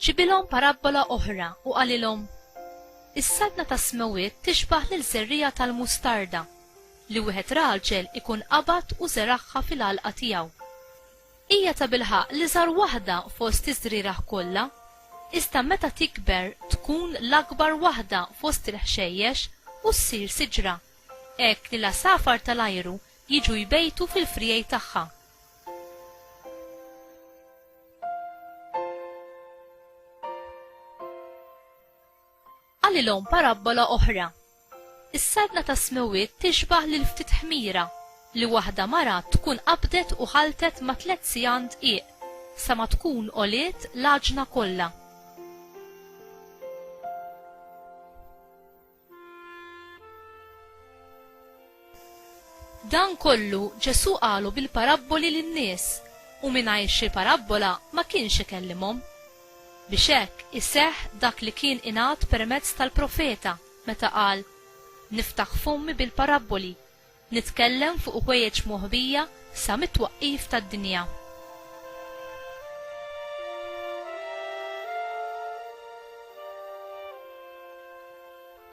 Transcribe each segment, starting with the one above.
Ġibilhom parabbola oħra u qalilhom, Is-saltna tas-smewwiet tixbah lil żerriegħa tal-mustarda li wieħed raġel ikun qabad u żeragħha fil-għalqa tiegħu. Hija tabilħaqq l-iżgħar waħda fost iż-żrieragħ kollha, iżda meta tikber tkun l-akbar waħda fost il-ħxejjex u ssir siġra, hekk li l-għasafar tal-ajru jiġu jbejtu fil-friegħi tagħha. Qalilhom parabbola oħra. Is-saltna tas-smewwiet tixbah lil ftit ħmira li waħda mara tkun qabdet u ħalltet ma' tliet sigħan dqiq sa ma tkun għoliet l-għaġna kollha. Dan kollu Ġesù qalu bil-parabboli lin-nies u mingħajr xi parabbola ma kienx ikellimhom. Biex hekk iseħħ dak li kien ingħad permezz tal-profeta meta qal, Niftaħ fommi bil-parabboli, nitkellem fuq ħwejjeġ moħbija sa mit-twaqqif tad-dinja.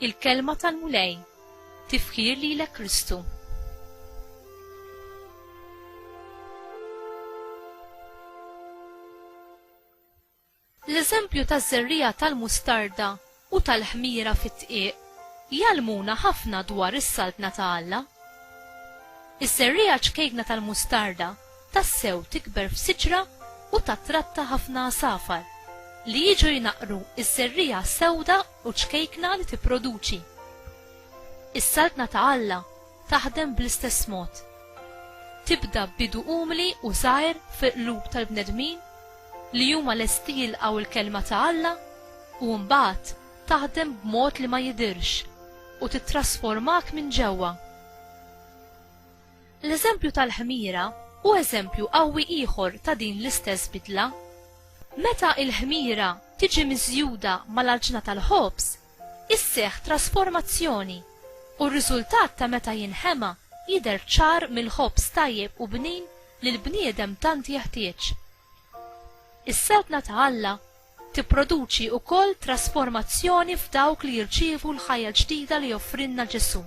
Il-Kelma tal-Mulej Tifħir lilek Kristu. L-eżempju taż-żerriegħa tal-mustarda u tal-ħmira fid-dqiq jgħallmuna ħafna dwar is-Saltna ta' Alla. Iż-żerriegħa ċkejkna tal-mustarda tassew tikber f'siġra u tattratta ħafna għasafar, li jiġu jnaqqru ż-żerriegħa sewda u ċkejkna li tipproduċi. Is-Saltna ta' Alla taħdem bl-istess mod. Tibda b'bidu umli u żgħir fil-qlub tal-bnedmin li huma lesti jilqgħu l-Kelma ta' Alla u mbagħad taħdem b'mod li ma jidhirx u tittrasformak minn ġewwa. L-eżempju tal-ħmira hu eżempju qawwi ieħor ta' din l-istess bidla. Meta l-ħmira tiġi miżjuda mal-għaġna tal-ħobż, isseħħ trasformazzjoni, u r-riżultat ta' meta jinħema jidher ċar mill-ħobż tajjeb u bnin li l-bniedem tant jeħtieġ. Is-Saltna ta' Alla Tipproduċi wkoll trasformazzjoni f'dawk li jirċievu l-ħajja l-ġdida li joffrilna Ġesù.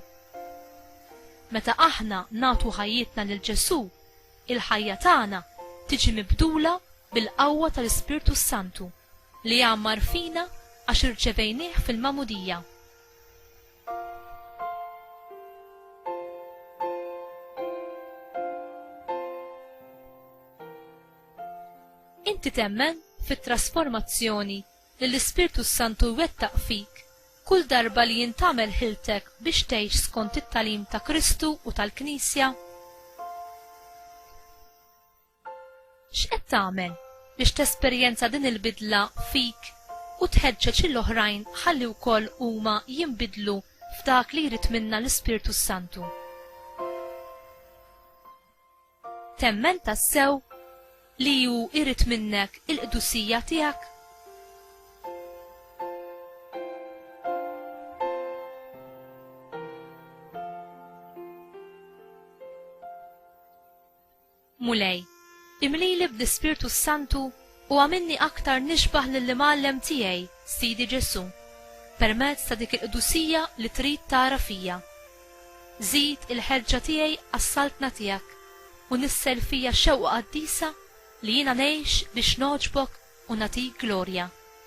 Meta aħna nagħtu ħajjitna lil Ġesù, il-ħajja tagħna tiġi mibdula bil-qawwa tal-Ispirtu s-Santu li jgħammar fina għax irċevejnih fil-magħmudija. Inti temmen fit-trasformazzjoni li l-Ispirtu s-Santu jwettaq fik kull darba li jintgħamel ħiltek biex tgħix skont it-tagħlim ta' Kristu u tal-Knisja? X'qed tagħmel biex tesperjenza din il-bidla fik u tħeġġeġ lill-oħrajn ħalli wkoll huma jinbidlu f'dak li jrid minna l-Ispirtu s-Santu? Temmen tassew li hu jrid minnek il-qdusija tiegħek? Mulej, imlili bl-Ispirtu s-Santu u għamilni aktar nixbah lill-Imgħallem tiegħi, Sidi Ġesù, permezz ta' dik il-qdusija li trid tara fija. Żid il-ħeġġa tiegħi għas-Saltna tiegħek u nissel fija xewqa qaddisa li jiena ngħix biex nogħġbok u nagħtik glorja.